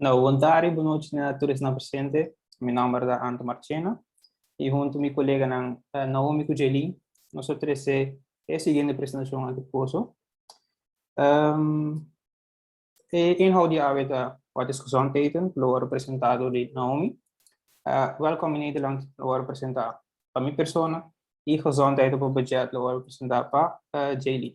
Nou, bontadi, bonochi na tur esnan presente. Mi nòmber ta Anto Marchena i huntu mi koleganan Naomi ku Jaylin nos a trese e siguiente presentashon akí poso. E inhoud di awe ta What is Gezondheten? ku lo wòrdu presentá dor di Naomi. Wèlkòm i Nederlànd lo wòrdu presentá pa mi persona i Gezondheid op 'n Budget lo wòrdu presentá pa Jaylin.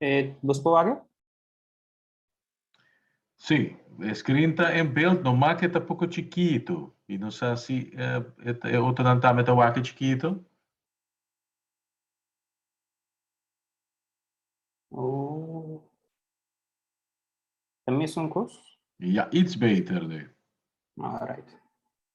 E nos por wak e? Sí, e screen ta en beeld noma ke ta poko chikito i no sa si e otronan tambe ta wak e chikito. Oh. Ta mesun kos? Ja, iets beter, Leo. Alright.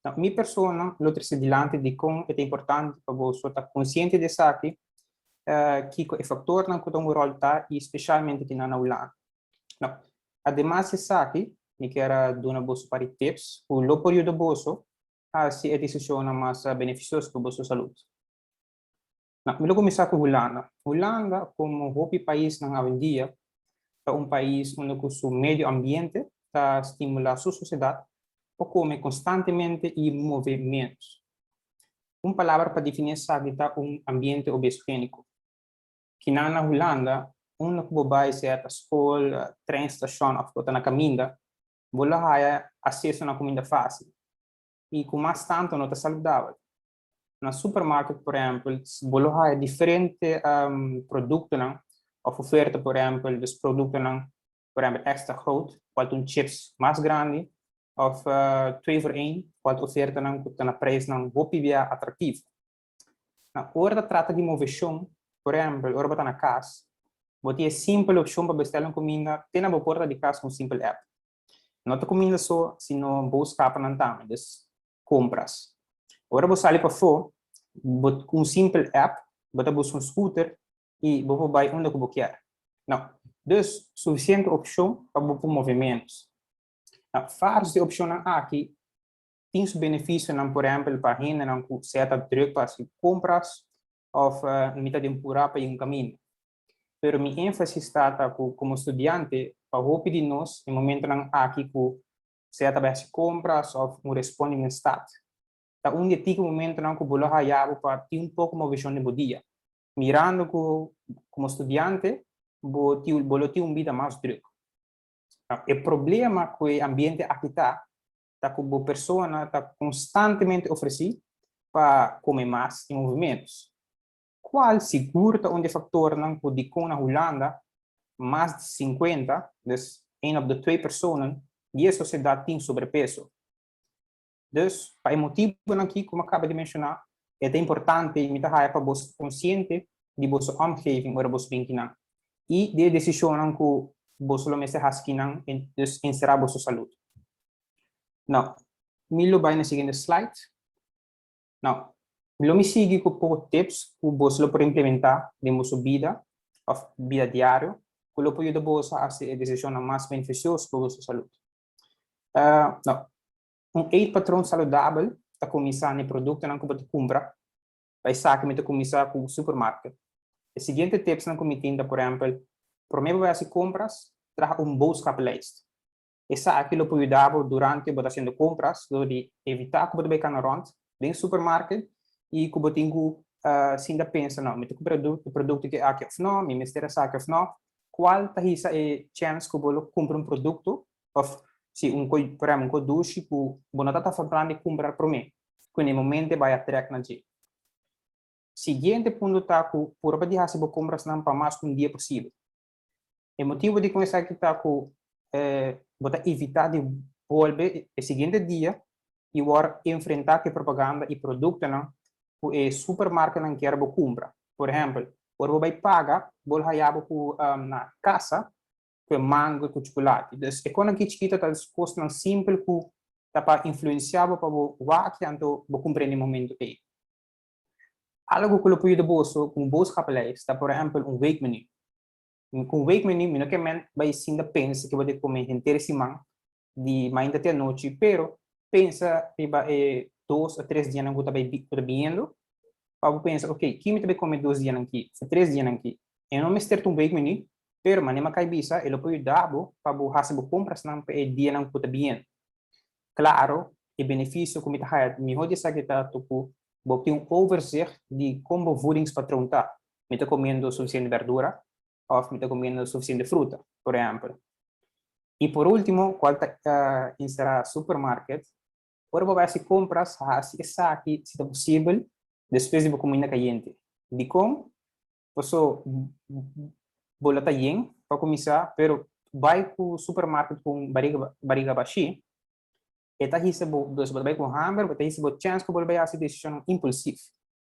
Dor mi persona lo trese dilanti di kon e ta importante pa boso ta konsiente di esaki, kiko e faktornan ku ta un ròl ta i spesialmente kinan na Hulanda. Dor, ademas di esaki, mi kier a duna boso par di tips ku lo por yuda boso hasi e desishonnan mas benefisioso pa boso salut. Na, mi lo kuminsá ku Hulanda. Hulanda, komo hopi paisnan awendia, ta un pais unda ku su medio ambiente ta stimulá su sosiedat pa kome konstantemente i move ménos. Un palabra pa definí esaki ta un ambiente obesogéniko. Kinan na Hulanda, unda ku bo bai, sea ta skol, tren stashon òf bo ta na kaminda, bo lo haya aseso na kuminda fásil i ku mas tantu no ta saludabel. Na supermarket por ehempel bo lo haya diferente productonan of oferta por ehempel des productonan por ehempel extra groot cual ta un chips mas grandi of twee voor een cual ta ofertanan cu ta na prijsnan hopi bia atractivo. Na ora ta trata di movecion por ehempel ora bo ta na cas bo tin e simpel opcion pa bestel un cuminda te na bo porta di cas cu un simpel app. No ta cuminda so sino bo scapnan tambe des compras. Ora bo sali pafo, bo cu un simpel app bo ta busca un scooter y bo por bay unda cu bo kier. Na, dus suficiente opcion pa bo por move menos. Na, vars di opcionnan aki tin su beneficionan, por ehempel pa hendenan cu sea ta druk pa haci compras of mi ta den pura pa yin caminda. Pero mi enfasis ta ta cu como studiante pa hopi di nos e momentonan aki cu sea ta bai hasi compras of bo responde den stad. Ta un di e tiki momentonan cu bo lo haya bo pa tin un poco movicion den bo dia, mirando cu como studiante bo tin bo lo tin un bida mas druk. E problema cu e ambiente aki ta, ta cu bo persona ta constantemente ofreci pa come mas y movimentos. Cual sigur ta un di e factornan cu dicon na Hulanda mas di cincuenta, dus een op de twee personen, di e sociedad tin sobrepeso. Dus, pa e motibonan aki cu mi a caba di menciona, e ta importante y mi ta haya pa boso ta consciente di boso omgeving ora boso bin kinan y di e decisionnan cu boso lo mester haci kinan, dus en sera boso salud. Now, mi lo bay na siguiente slide. Now, lo mi sigui cu poco tips cu bos lo por implementa den boso bida of bida diario cu lo por yuda bos a haci e decisionnan mas beneficioso pa boso salud. Now, un eetpatron saludabel ta cuminsa na e productonan cu bo ta cumpra, pa esaki mi ta cuminsa cu supermarket. E siguiente tipsnan cu mi tin ta, por ehempel, prome bo bay haci compras, traha un boodschappenlijst. Esaki lo por yuda bo durante bo ta hasiendo compras lo di evita cu bo ta bay cana rond den supermarket y cu bo tin cu sinda pensa, No, mi ta cumpra e producto que aki of no? Mi mester esaki of no? Cual ta hisa e chance cu bo lo cumpra un producto of si un cos, por ehem, un cos dushi cu bo no tata for plan di cumpra prome cu n'e momento e bay a trek na dje? Siguiente punto ta cu purba di hasi bo comprasnan pa mas cu un dia posible. E motibu di con esaki ta cu bo ta evita di bolbe e siguiente dia y wor enfrenta cu e propaganda y productonan cu e supermarketnan kier bo cumpra. Por ehempel, ora bo bay paga, bo lo haya bo cu na e casa cu e mango y cu chuculati. Dus, e cosnan aki chikito ta es cosnan simpel cu ta pa influencia bo pa bo wak y anto bo cumpra e na e momento ey. Algo cu lo por yuda boso cu un boodschappenlijst ta por ehempel un weekmenu. Cu un weekmenu mi no ke ment bay ecinda pensa ke bo debe come henter e siman, di mainta te anochi, pero pensa riba e dos o tres dianan cu ta bay cu ta biniendo pa bo pensa ok, ki mi ta bay come dos dianan ki of tres dianan ki? E no mester ta un weekmenu, pero manera mi a cay bisa e lo por yuda bo pa bo haci bo comprasnan pa e dianan cu ta biniendo. Claro, e beneficio cu mi ta haya ta miho di esaki ta to cu bo tin un overzicht di con bo voedingspatroon ta, mi ta comiendo suficiente berdura of mi ta comiendo suficiente fruta, por ehempel. Y por ultimo, cual ta encerra supermarket, ora bo bay haci compras, haci esaki si ta posibel despues di bo comina cayente. Dicon? Paso bo la ta yen pa kuminsá, pero bai ku supermarket ku un bariga bariga bashí, e ta hisa bo, dus bo ta bai ku hamber, bo ta hisa bo chèns ku bo lo bai hasi desishon impulsif.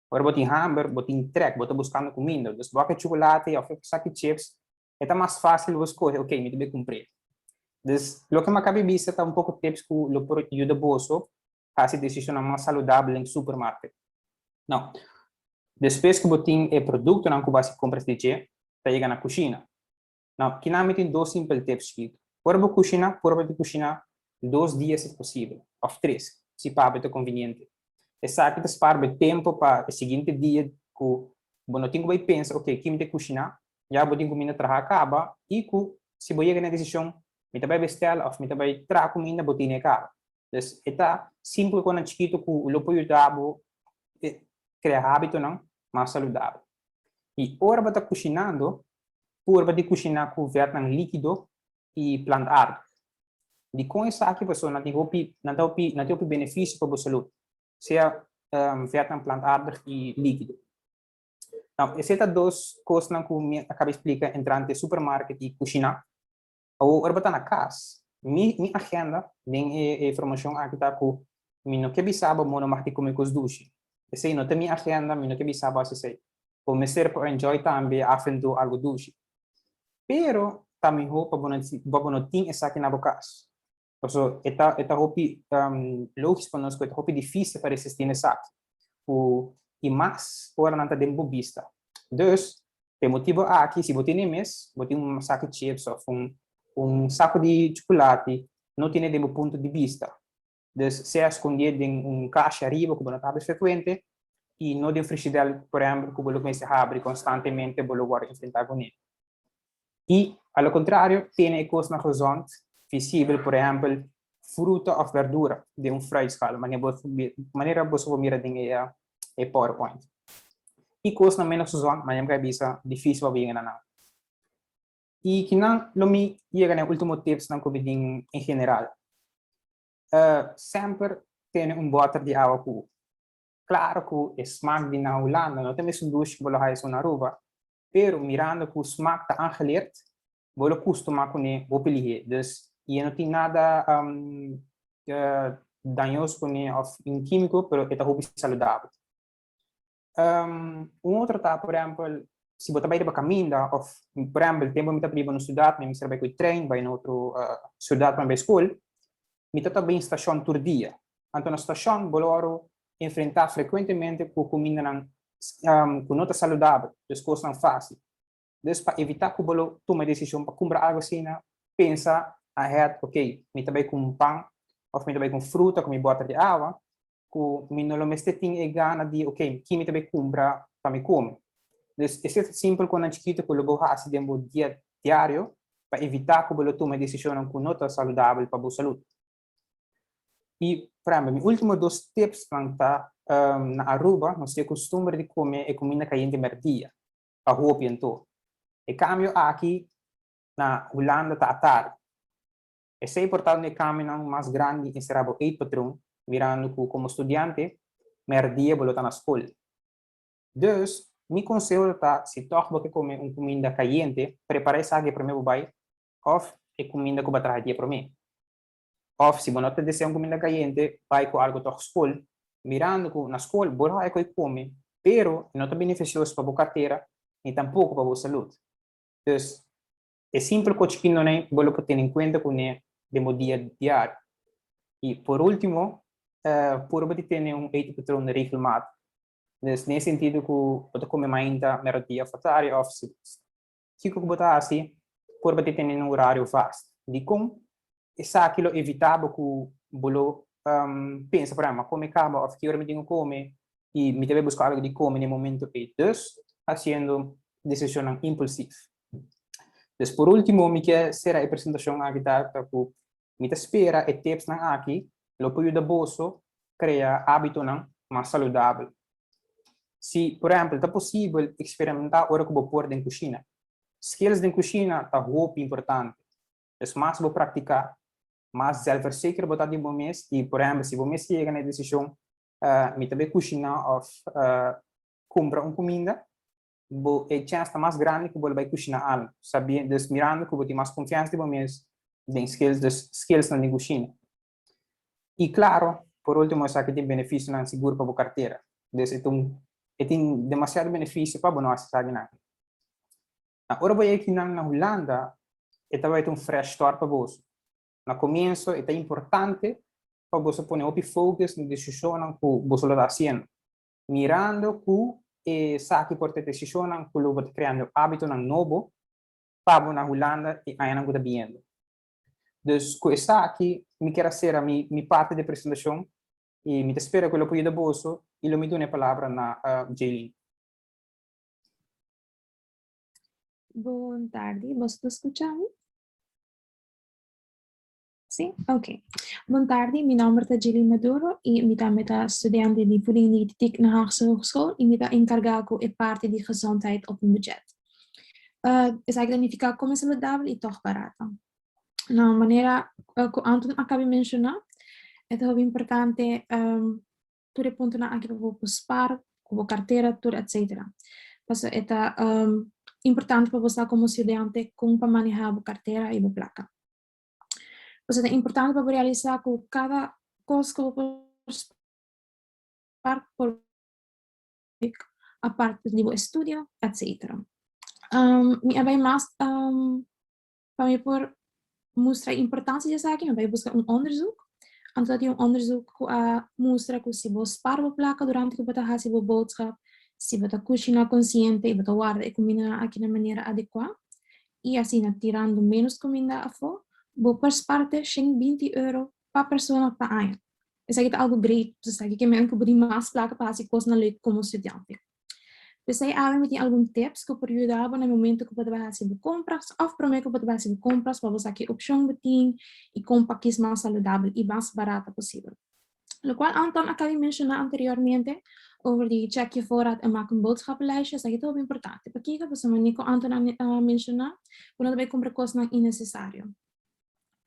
Ora bo tin hamber, bo tin trèk, bo ta buskando kuminda, dus bo a ke chukulate òf e ku sa ki chips, e ta mas fásil bo skohe, ok, mi ta bai kumpr'é. Dus, loke mi a kabe bisa ta un poko tips ku lo por yuda boso hasi desicionnan mas saludabel den supermarket. No. Despues cu bo tin e productonan cu bo hasi compras di dje, ta yega na cushina. No. Kinan mi tin dos simpel tips skitu. Ora bo cushina, purba di cushina dos dia si posibel, of tres, si pa bo ta conveniente. Esaki ta spara bo e tempo pa e siguiente dia cu bo no tin cu bay pensa, ok, ki mi ta cushina? Ya bo tin cuminda traha caba y cu si bo yega na e decision, mi ta bay bestela of mi ta bay traha cuminda, bo tine e caba. Entonces e ta simple cosnan chikito cu lo por yuda bo crea habitonan mas saludabel. Y ora bo ta cushinando, purba di cushina cu vètnan likido y plantaardo. Dicon esaki pasó? Nan tin hopi, nan ta hopi, nan tin hopi beneficio pa bo salud, sea vètnan, plantaardo y likido. Esei ta dos cosnan cu mi a caba explica entrante supermarket y cushina. Awor, ora bo ta na cas, mi mi agenda den e e formacion aki ta cu mi no ke bisa bo mono mah di cume cos dushi. Esey no ta mi agenda, mi no ke bisa bo haci esey. Bo mester por enjoy tambe e afrentu algo dushi. Pero ta miho pa bo no tin esaki na bo cas. Paso e ta e ta hopi um, logisch pa nos cu e ta hopi difícil pa resistir na esaki, cu y mas ora nan ta den bo bista. Dus, pe motibo aki, si bo tin e mes, bo tin un saki chips of un un saco di chocolate, no tin e den bo punto di bista. Dus, sea escondie den un cashi ariba cu bo no ta habri frecuente y no den frigidel, por ehemplo, cu bo lo mester habri constantemente bo lo worde enfrenta cu ne. I a lo kontrario tene e kosnan gezond, visibel, por ehèmpel fruta òf bèrdura den un frai skaal, manera boso por mira den e powerpoint. I kosnan ménos gezond, manera mi ta bisa, difísil pa bo yega na nan. I kinan lo mi yega na e último tipsnan ku bidin en general. Semper tene un bòter di awa ku. Klaro ku e smak di nan Hulanda no ta mester dushi ku bo lo haya esun na Aruba, Pero mirando cu Smaak ta aangeleerd, bo lo custuma cune bo pelihe, dus y e no tin nada dañoso cune of un quimico, pero e ta hopi saludabel. Un otro ta, por ehempel, si bo ta bay riba caminda of, por ehempel, tempo mi ta biba no ciudad, mi a mester bay cu e trein bay no otro ciudad pa mi bay school, mi ta ta bay in stacion tur dia. Anto na stacion bo lo ora enfrentá frekuentemente ku kumindanan ku no ta saludabel, dus kosnan fásil. Dus pa evitá ku bo lo tuma e desishon pa kumpra algu asina, pensa ahead, Oke, mi ta bai ku un pan òf mi ta bai ku un fruta ku mi bòter di awa ku mi no lo mester tin e gana di oke, ki mi ta bai kumpra pa mi kome? Dus esei ta simpel kosnan chikitu ku lo bo hasi den bo dia diario pa evitá ku bo lo tuma e deshishonnan ku no ta saludabel pa bo salud. Y prehempel mi ultimo dos tipsnan ta, na Aruba nos tin e costumber di come e cuminda cayente merdia, pa hopi anto. E cambio aki na Hulanda ta atardi. Esey por tal un di e cambionan mas grandi encerá bo eetpatroon, mirando cu como studiante merdia bo lo ta na scol. Dus, mi conseho lo ta si tog bo ke come un cuminda cayente, prepara esaki prome bo bay òf e kuminda ku bo a traha dia promé. Òf, si bo no ta desea un kuminda kayente, bai ku algu tòg skol, mirando ku na skol bo lo haja kome, pero e no ta benefisioso pa bo kartera ni tampoko pa bo salud. Dus, e simpel kochi pindonai bo lo por tene en kuenta ku ne den bo dia diario. I por último, purba di tene un etepatrun regelmato. Dus, den e sentido ku bo ta kome mainta mèrdudia òf tardi òf si Kiko ku bo ta hasi for bo ta tene un orario vast? Dikon? Esaki lo evitá bo ku bo lo pensa, por ehèmpel, ma kon mi kaba òf ki ora mi tin ku kome i mi ta bai buska algu di kome na e momentu ei, dus hasiendo desishonnan impulsif. Pues, por último, mi ke sera e presentashon aki ta ku Mi ta spera e tipsnan aki lo por yuda boso krea ábitonan mas saludabel. Si, por ehèmpel, ta posibel eksperimentá ora ku bo por den kushina. Skills den kushina ta hopi importante. Des mas bo praktiká, mas zèlfverseker bo ta di bo mes i, por ehèmpel, si bo mes yega na e desishon, Mi ta bai kushiná òf kumpra un kuminda? bo e chèns ta mas grandi ku bo lo bai kushina algu, sabiendo, dus mirando ku bo tin mas konfiansa di bo mes den skills, dus skillsnan den kushina. I klaro, por último esaki tin benefisionan sigur pa bo kartera, dus e ta e tin demasiado benefisio pa bo no hasi esaki nan. Na ora bo yeki nan na Hulanda e tabata ta un fresh start pa boso. Na komienso e ta importante pa boso pone hopi focus na desishonnan ku boso lo ta hasiendo, mirando cu esaki por ta decisionnan cu lo bo ta creando habitonan nobo pa bo na Hulanda e añanan cu ta biyendo. Dus, cu esaki mi quier a cera mi mi parti di presentacion y mi ta spera cu lo por yuda boso y lo mi duna e palabra na Jaylene. Bon tardi, boso ta scucha mi? Sí, ok. Bon tarde, mi nombre ta Jilly Maduro y mi tambe ta studente di voeding dietetic na Haagse Hogeschool y mi ta encarga cu e parte di gezondheid op een budget. Uh, esaki ta nifica come saludable y toch barato. Na manera uh, cu Anton acabe menciona, het is importante um, tur e punto na aki bo spar, cu bo cartera, tur etc. Paso het um, importante pa bo sa como studente con pa manejar bo cartera y bo placa. Pues ta importante pa bo realisa cu cada cos cu bo por spar por bek aparte di bo estudio etcetera. Mi a bay mas pa mi por mustra e importancia di esaki mi a bay busca un onderzoek. Anto a tin un onderzoek cu a mustra cu si bo spar bo placa durante cu bo ta haci bo boodschap, si bo ta cushina consciente y bo ta warda e cumindanan aki na manera adecua i asina tirando ménos kuminda afó, bo persparte shen binti euro pa persona pa aña. Esaki ta algu grei pasobra esaki ke men ku bo tin mas plaka pa hasi kosnan lei komo studiante. P'esei awe mi tin algun tips ku por yuda bo na e momento ku bo tabata hasi bo kompras òf promé ku bo tabata hasi bo kompras pa bo sa ke opshon bo tin i kon pa kis mas saludabel i mas barata posibel. Lo cual Anton a cami menciona anteriormente over di check je voorraad en maak een boodschappenlijstje, esaki ta hopi importante. Pakico? Pasobra Nico Anton a menciona cu no ta bay cumpra cosnan innecesario.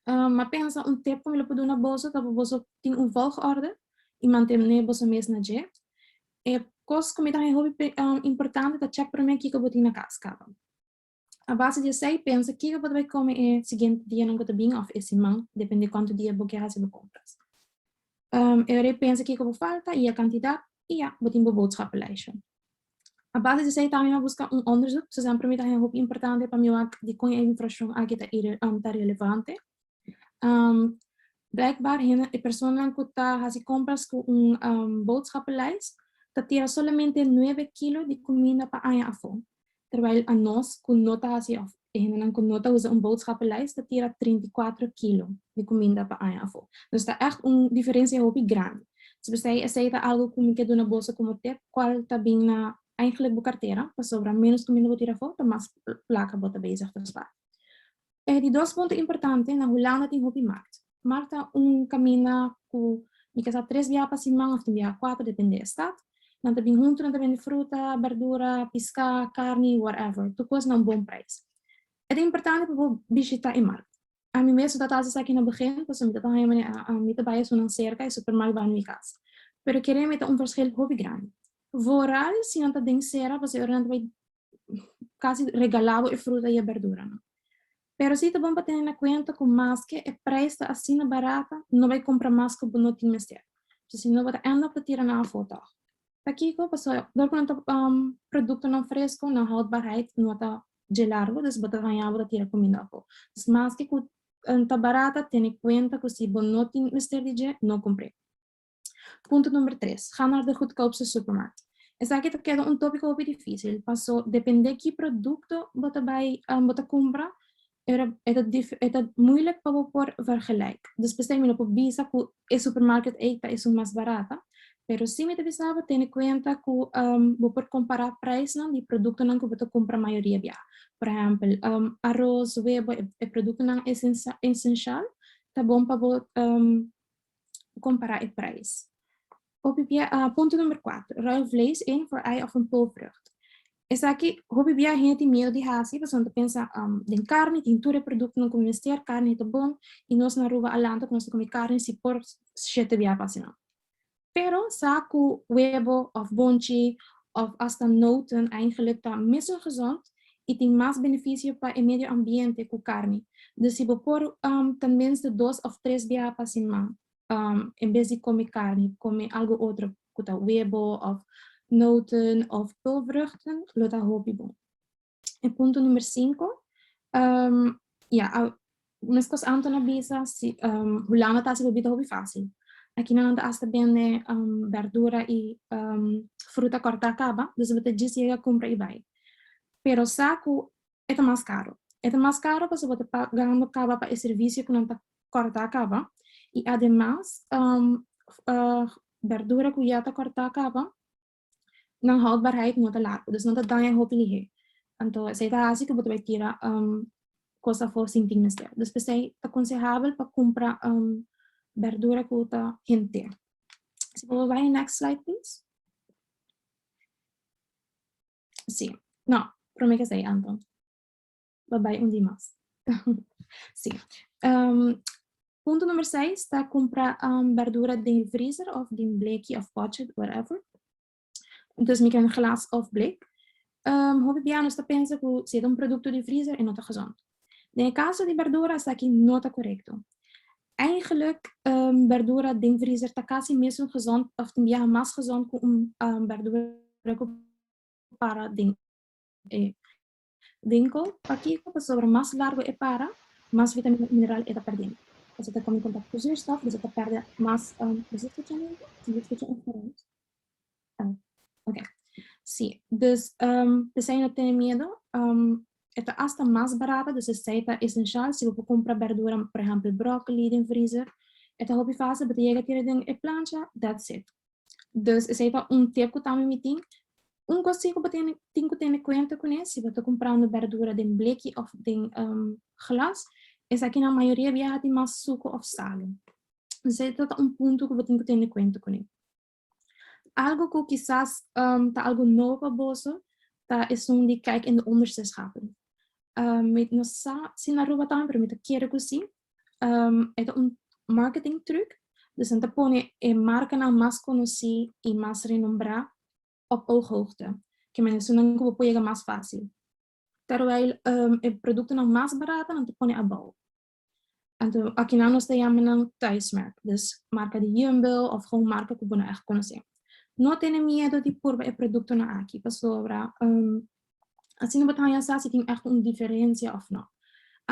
M'a pensa un tip cu mi lo por duna boso ta cu boso tin un volgorde y mantene boso mes na dje. E cos cu mi ta haña hopi importante ta check prome kico bo tin na cas caba. A base di esei, pensa kiko bo ta bai kome e siguiente dianan ku ta bin òf e siman, depende kuantu dia bo kier hasi bo kompras. E ora ei pensa kiko bo falta i e kantidat, i ya, bo tin bo boodschappenlijstje. A base di esei tambe mi a buska un onderzoek, su esempel mi ta haña hopi importante pa mi wak di kon e infrashon aki ta ire ta relevante. Blijkbaar hende, e personanan ku ta hasi kompras ku un boodschappenlijst ta tira solamente nuebe kilo di kuminda pa aña afó. terwijl anos cu no ta haci of e hendenan cu no ta usa un boodschappenlijst ta tira trinta i kuater kilo di cuminda pa aña afo. Dus ta echt un diferencia hopi grandi. Si bo sei esey ta algo cu mi ke duna boso como tep, cual ta bin na eigenlijk bo cartera, pasobra menos cuminda bo tira afo ta mas placa bo ta bezig ta spaar. E di dos punto importante, na Hulanda tin hopi mart. Mart ta un kaminda ku mi ke sa tres bia pa siman òf tin bia kuater, depende e stat. Nan ta bin huntu, nan ta bende fruta, bèrdura, piskà, karni, whatever, tur kos na un bon prijs. E ta importante pa bo bishitá e mart. Ami mes no tabata hasi esaki na begin, pasobra mi tabata haña manera ami ta bai esun nan serka, e supermart bai na mi kas. Pero kere mi ta un verskil hopi grandi. Vooral si nan ta den sera, pasobra e ora nan ta bai casi regala bo e fruta y e berdura nan. Pero si ta bon pa tene na cuenta cu maske e prijs ta asina barata no bay compra mas cu bo no tin mester, pasobra si no bo ta end up ta tira nan afo toch. Pakico? Pasobra dor cu nan ta productonan fresco nan houdbaarheid no ta dje largo dus bo ta haña bo ta tira cuminda afo. Dus maske cu ta barata tene cuenta cu si bo no tin mester di dje no compre. Punto number tres, ga na de goedkoopste supermarkt. Esaki ta keda un tópiko hopi difísil, paso depende ki produkto bo ta bai, bo ta kumpra, e ta moeilijk pa bo por vergelijk. Despues ta imino por bisa ku e supermarket ei ta esun mas barata, pero sin mi ta bisa bo tene kuenta ku bo por kompará preisnan di produktonan ku bo ta kumpra mayoria biaha. Por ehèmpel, aros, webo, e produktonan esenshal ta bon pa bo compara e prijs. Hopi bia, uh, punto number 4. Ruil vlees in voor ei of een poolvrucht. Esaki hopi bia hende tin miedo di hasi, pasobra ta pensa um, den carne tin tur e productonan ku mester, carne ta bon i nos na Aruba Alanto ku nos ta komi carne si por shete bia pa asinan. Pero sa ku webo of bonchi of asta noten eingelik ta mesun gezond, i tin mas benefisio pa e medio ambiente ku karni. Dus si bo por um ta mens di dos òf tres biaha pa siman um en bes di kome karni, kome algu otro ku ta webo òf noten òf peulvruchten lo ta hopi bon. E punto number sinku um ya a Ku meskos Anton a bisa, si Hulanda ta hasi hopi ta hopi fásil. Aki nan ta asta bende bèrdura i fruta kòrtá kaba, dus bo ta djis yega kumpra i bai. Pero sa ku e ta mas karu. E ta mas karu pasobra bo ta pagando kaba pa e servisio ku nan ta kòrtá kaba i ademas bèrdura ku ya ta kòrtá kaba nan houdbaarheid no ta largu, dus nan ta daña hopi lihé. Anto esei ta hasi ku bo ta bai tira um kos afó sin tin mester. Dus p'esei ta konsehable pa kumpra um bèrdura ku ta hent'é. Si bo bai na next slide please. Sí, no, promé k'esei Anto. lo bai un di mas. si. Um, punto number 6 ta compra um, verdura den vriezer of den bleki of potje, whatever. Dus mi ken glas of blek. Um, hopi pianos ta pensa ku si un produkto di vriezer e no ta gezond. Den caso di verdura sa ki no ta correcto. Eigenlijk um, verdura den vriezer ta casi mesun gezond of tin biaha mas gezond ku un um, verdura ku para den e Winco, Pakico pasobra mas largo e para, mas vitamina i mineral e ta perdendo. As e ta come contacto cu zuurstof, dus a ta perde mas Ok, si. Dus pesei no tene miedo. E ta hasta mas barato, dus esei ta esencial. Si bo por cumpra berdura, por ehempel broccoli den freezer, e ta hopi facil, bo ta yega a tira den e plancha, that's it. Dus esei ta un tip ku Tami mi tin. Un kosnan ku bo tin ku tene kuenta kuné si bo ta kumprando bèrdura den bleki òf den glas, esaki na mayoria biaha tin mas suko òf salu. Esei ta un punto ku bo tin ku tene kuenta kuné. Algu ku kisas ta algu nobo pa boso ta esun di kijk in de onderzeeschappen. Mi no sa si na Aruba tambe, pero mi ta kere ku si. e ta un marketing truc, dus nan ta pone e marcanan mas conoci y mas renombrá op ooghoogte, ke maneso nan cu bo por yega mas fácil. Terwijl e productonan mas barata nan ta pone abao. Anto akinan nos ta yama nan thuismerk, dus marca di Jumbo of gewoon marca cu bo no echt conoce. No tene miedo di purba e productonan aki, pasobra Asina bo ta haña sa si tin èkto un diferensia òf nò.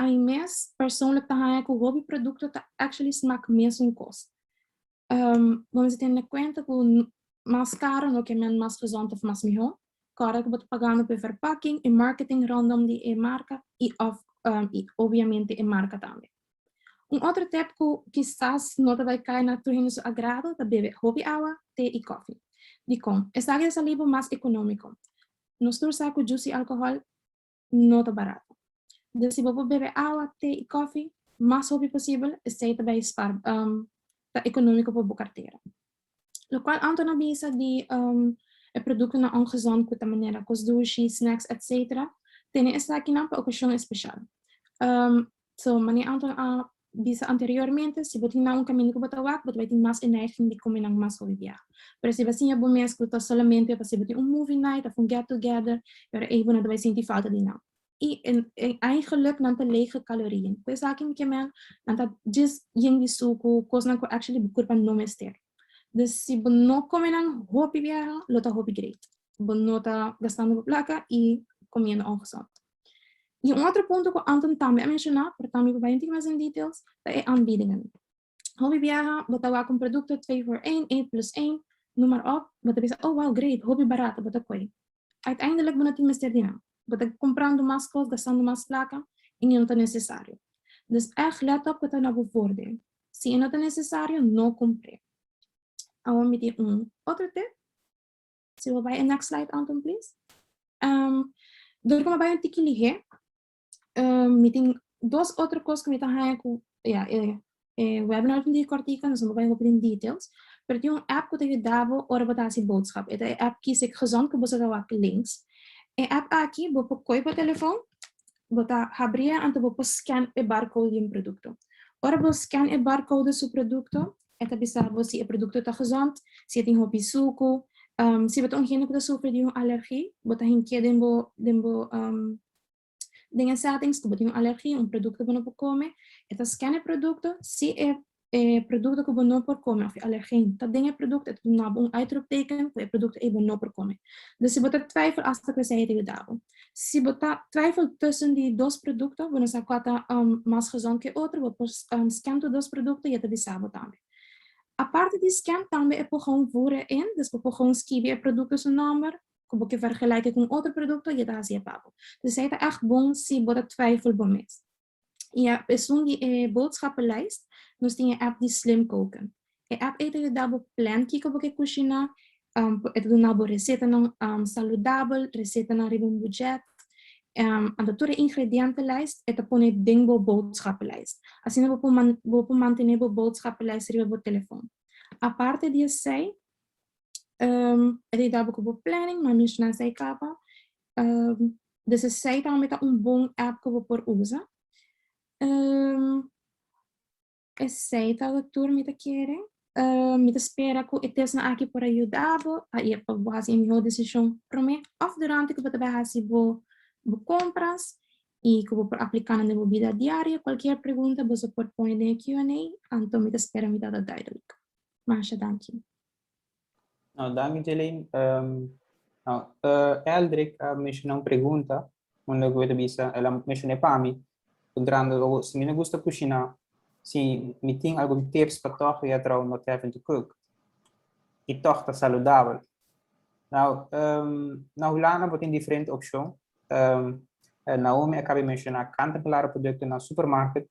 Ami mes persoonlijk ta haña ku hopi produkto ta actually smak mesun kos. Bo mester tene kuenta ku mas karo no ke men mas gezond òf mas mihó. Kòrda ku bo ta pagando pa e verpakking, e marketing rondom di e marka i òf i obviamente e marka tambe. Un otro tep cu kisas no ta bay cay na tur hende su agrado ta bebe hopi awa, te y cofi. Dicon? Esaki ta sali bo mas economico. Nos tur sa cu jusi y alcohol no ta barato. Dor si bo por bebe awa, te y cofi mas hopi posibel, esey ta bay ta economico pa bo cartera. lokual anto no bisa di e produktonan ongezond ku ta manera kos dushi, snacks etcetera, tene esakinan pa okashon espeshal. So, manera anto a bisa anteriormente, si bo tin nan un kaminda ku bo ta wak, bo ta bai tin mas e neiging di kome nan mas hopi biaha. Pero si bo a siña bo mes ku ta solamente pa si bo tin un movie night of un get together, ora ei bo no ta bai sinti falta di nan. y eigenlijk nan ta lege calorieën. Cu esaki mi ke mel, nan ta djis yen di sucu, cosnan cu actually bo curpa no mester. Dus si bo no come nan hopi biaha, lo ta hopi great. Bo no ta gastando bo placa y comiendo ongezond. Y un otro punto cu Anton tambe a menciona, pero tambe mi papai no tin mas en details, ta e aanbiedingen. Hopi biaha bo ta wak un produkto twee voor één, één plus één, noem maar op, bo ta bisa, oh wauw, great, hopi barato bo ta koe. Uiteindelik bo no tin mester di nan. Bo ta komprando mas kos, gastando mas plaka, en e no ta nesesario. Dus èg lèt op kua ta na bo voordeel. Si e no ta nesesario, no kompr'é. Awor mi tin un otro tip. Si bo bai e next slide, Anton, please. Dor ku mi a bai un tiki lihé, Ehm, mi tin dos otro cos cu mi ta haya cu, ya, eh, eh, webinar tin di cortica, nos vamos a hopi tin details, pero tin un app cu ta yudabo ora bo ta hasi boodschap. Eta e app Kies Ik Gezond cu bo sa ta wak links. E app aki, bo por koi bo telefoon, bo ta habria anto bo por scan e barcode di un producto. Ora bo scan e barcode di su producto, eta bisa bo si e producto ta gezond, si e tin hopi sucu, ehm, si bo ta un hende cu ta sufri di un alergie, bo ta hink'é den bo, den bo, ehm, Den e settings ku bo tin un alergi un produkto bo no por kome, e ta scan e produkto, si e produkto ku bo no por kome òf e alergen ta den e produkto e ta duna bo un uitropteken ku e produkto ei bo no por kome. Dus si bo ta twijfel asta ku esei e ta yuda bo. Si bo ta twijfel tussen di dos produkto, bo no sa kua ta mas gezond ke otro, bo por scan tur dos produkto i e ta bisa bo tambe. Aparte di scan tambe e por gou voer erin, dus bo por gou skibi e produkto su nòmber, ku bo ke vergelijke ku un otro produkto y e ta hasi e pago. Dus esei ta ègt bon si bo ta twijfel bo mes. I a esun di e boodschappenlijst nos tin e app di Slim Koken. E app ei ta yuda bo plan kiko bo ke kushiná, e ta duna bo resetanan saludabel, resetanan riba un bujet, anto tur e ingredientenlijst e ta pone den bo boodschappenlijst. Asina bo por bo por mantené bo boodschappenlijst riba bo telefòn. Aparte di esei, Um, e dabo ku bo planning, ma menshona esei kaba. Um, dus esei ta meta un bon app ku bo por usa. Um, esei ta tur mi ta kere. Uh, mi ta spera ku e testnan aki por a yuda bo, a e pa bo hasi e mihó desishon promé òf durante ku bo ta bai hasi bo bo kompras i ku bo por apliká nan den bo bida diario. Kualkier pregunta boso por pone den e Q&A, anto mi ta spera mi tabata duidelijk. Masha danki. No, danki Jelaine. Um, no, uh, Eldrick a menciona un pregunta, unda go te bisa, el a menciona pa mi, un grande logo, si mi no gusta cucina, si mi tin algun tips pa toch ya trouw not having to cook, y toch ta saludabel. Nou, um, na Hulanda bo tin diferente opcion. Um, Naomi acaba menciona kant en klare producten na supermarket,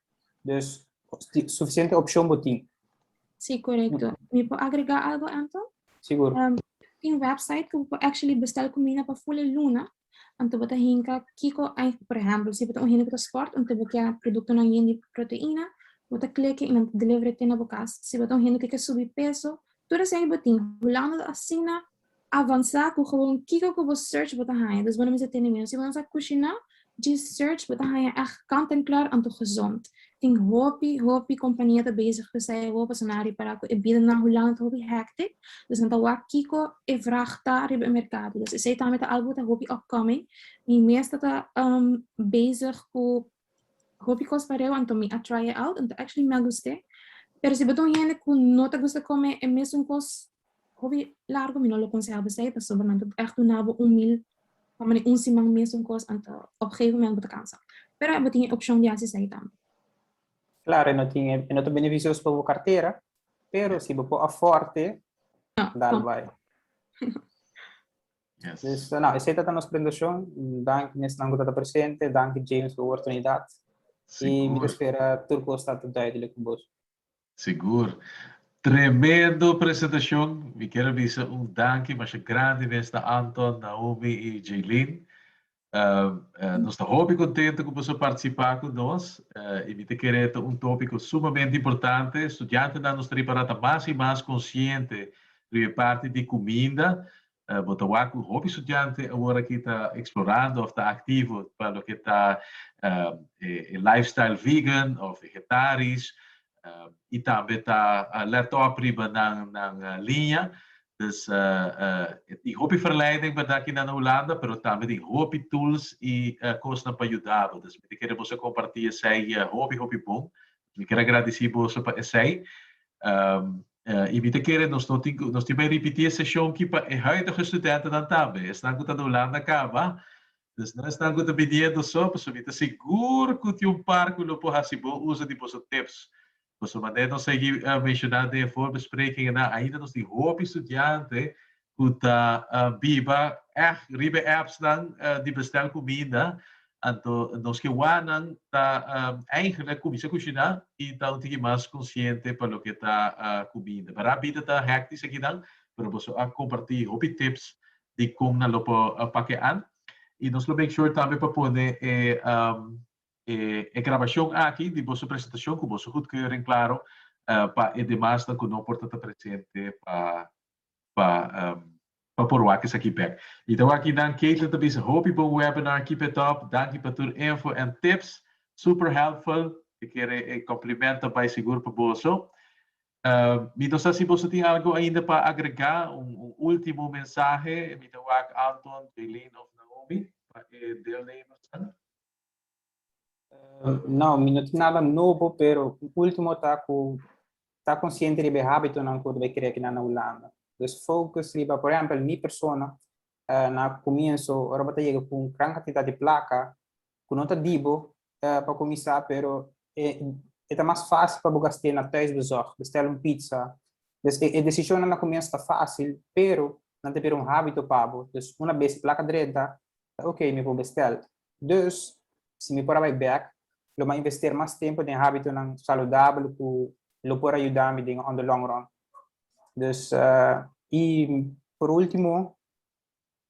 Dus suficiente opcion bo tin. Sí, correcto. Mi por agregar algo, Anton? Seguro. Um, tin website que por actually bestel comida para full luna. Anto bota hinka kiko, por ejemplo, si bota un hinka sport, anto bota producto na yen de proteína, bota clique y delivery te na bokas. Si bota un hinka que subi peso, todo ese botín. Hulando asina Avansa cu gewoon kico cu bo search bo ta haña, dus bo no mester tene mieu. Si bo no sa cushina, djis search bo ta haña echt kant en klaar anto gezond. Tin hopi, hopi compania ta bezig cu esai awor pasobra nan a repara cu e bidanan Hulanda ta hopi hectic, dus nan ta wak kico e vraag ta riba e mercado. Dus esai tambe ta algo cu ta hopi upcoming. Mi mes ta ta bezig cu Hopi cos pareu anto mi a try e out anto actually mi a gust'e. Pero si bo ta un hende cu no ta gusta come e mesun cos hopi largo mi no lo conseha bo sey pasobra nan ta echt duna bo un meal pa mane un siman mesun cos anto op gegeven moment bo ta cansa. Pero bo tin e opcion di haci esey tambe. Claro e no tin e no ta beneficioso pa bo cartera pero si bo por afford e No, dal tampoco. bay. Yes. So nou, esei ta ta nos presentashon. Danki mesnan ku ta ta presente, danki James pa oportunidat. I mi ta Sigur, spera tur kos ta ta duidelik pa boso. sigur. Tremendo presentashon. Mi kier a bisa un danki masha grandi mes na Anton, Naomi i Jaylene. Nos ta hopi contento cu boso participa cu nos y mi ta kere ta un topico sumamente importante. Studiantenan nos ta ripara ta mas y mas consciente riba e parti di cuminda. Bo ta wak cu hopi studiante awor aki ta explorando of ta activo pa loke ta e lifestyle vegan of vegetarisch. y tambe ta let op riba nan liña dus tin hopi verleiding berdad aki na Hulanda pero tambe tin hopi tools y cosnan pa yudabo dus mi ta kere boso comparti esey hopi hopi bon mi quier agradeci boso pa esey y mi ta kere nos no tin nos tin bay ripiti e session aki pa e huidige studentenan tambe esnan cu ta na Hulanda caba Pues no esnan cu ta biniendo so, pasobra mi ta sigur cu tin un par cu lo por haci bon uzo di boso tips. Pasobra manera nos a yegi menciona den e voorbespreking enan, ainda nos tin hopi studianten cu ta biba echt riba e appsnan di bestel cuminda. Anto nos ke wou nan ta eigenlijk cuminsa cushina y ta un tiki mas consciente pa loke ta cuminda. Mara bida ta hectisch akinan, pero boso a comparti hopi tips di con nan lo por pakeal y nos lo make sure tambe pa pone e e grabacion aki di boso presentacion cu boso goedkeuring claro pa e demasnan cu no por ta ta presente pa pa pa por wak esaki bek. Y ta wak aki nan Katelyn ta bisa hopi bon webinar keep it up danki pa tur info and tips super helpful e kere e complimento bay segur pa boso Mi ta sa si boso tin algu ainda pa agregá, un último mensahe. Mi ta wak Anton, Jaylene òf Naomi pa e deelnemersnan. No, mi no tin nada nobo, pero un último ta ku ta konsiente riba e hábitonan ku bai krea kina na Hulanda. Pues fokus riba, por ehèmpel mi persona, na kumienso ora bo ta yega ku un gran kantidat di plaka, ku no ta dibo pa kuminsá pero e ta mas fásil pa bo gast'é na tuisbezòg, bèstèl un pizza. Des e desishonnan na kumiens ta fásil pero nan ta bira un hábito pa bo. Dus una bes e plaka drenta, ta okey mi por bèstèl. Dus, si mi por a bai bèk, lo mi a invester mas tempu den hábitonan saludabel ku lo por a yuda mi den on the long run. Dus, i por último,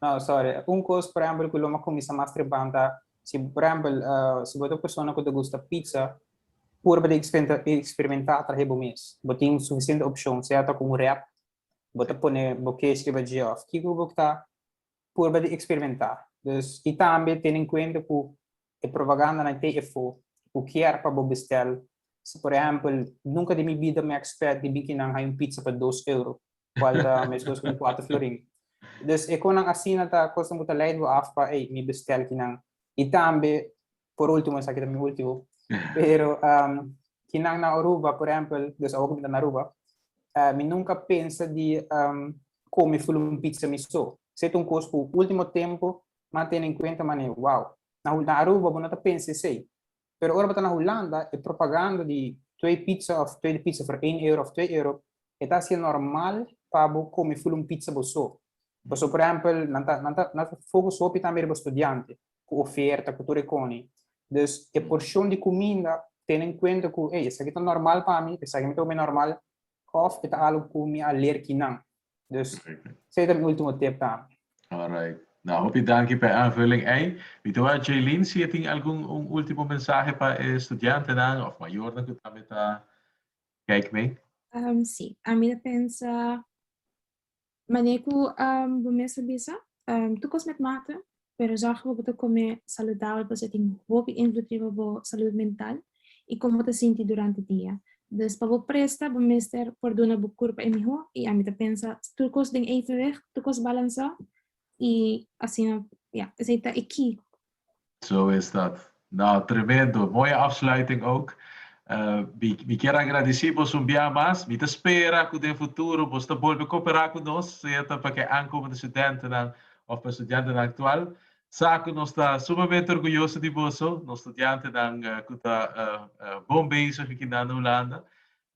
No, sorry. Un cos, por ehempel, cu lo me cuminsa mas tripando ta, si, por ehempel, si bo ta un persona cu ta gusta pizza, pur pa ta experimenta atrahe bo mes. Bo tin suficiente opcion, sea ta cu un wrap, bo ta pone bo kesh riba dje of kiko cu bo ta, pur pa ta experimenta. Dus, y tambe tene en cuenta cu E propagandanan te efo cu kier pa bo bestel, si por ehempel, Nunca den mi bida mi a expect di bin kinan hay un pizza pa dos euro, cual ta mescos cu un cuater florin. Dus e conan asina ta cosnan cu ta leid bo af pa ey, mi bestel kinan. Y tambe, por ultimo, esaki ta mi ultimo, pero kinan na Aruba, por ehempel, dus awo cu mi ta na Aruba, mi nunca a pensa di come full un pizza mi so. Sey ta un cos cu ultimo tempo Nan tene en cuenta manera, wow, na Hul-, na Aruba bo no ta pensa esey. Pero ora bo ta na Hulanda, e propaganda di twee pizza of tweede pizza voor één euro of twee euro, e ta hacié normal pa bo come full un pizza bo so. Pasobra, por ehempel, nan ta, nan ta, nan ta focus hopi tambe riba studiante, cu oferta, cu tur e cone. Dus, e porcion di cuminda tene en cuenta cu, ey, esaki ta normal pa mi, esaki mi ta obe normal, of e ta algo cu mi a leer ki nan. Dus, sey ta mi ultimo tip tambe. Alright. Nou, hopi danki pa e aanvulling ei. Mi ta wou a Jaylene si e tin algun un ultimo mensahe pa e studiantenan of mayornan ku tambe ta kijk mee. Si, ami ta pensa, manera ku bo mes a bisa, tur kos met mata, Pero zòrg ku bo ta kome saludabel pasobra e tin hopi invloed riba bo salud mental i kon bo ta sinti durante dia. Dus pa bo presta bo mester por duna bo kurpa e mihó i ami ta pensa tur kos den evenweg, tur kos balansá i asina ya esei ta e key. Zo estat No, tremendo. Mooi afsluiting ook. Mi mi kier agradeci bos un bia mas. Mi ta spera cu den futuro bos ta bolbe coopera cu nos, sea ta pa ke aankomende studentenan of pa studiantenan actual. Sa cu nos ta sumamente orguyoso di boso, nos studiantenan cu ta bon bezig aki nan na Hulanda.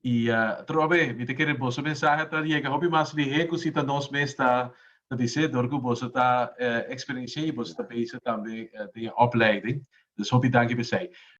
I otro be, mi ta kere boso mensahe ta yega hopi mas lihé ku si ta nos mes ta disé dor ku boso ta eksperensié i boso ta bezig tambe den e opleiding. Dus hopi danki p'esei.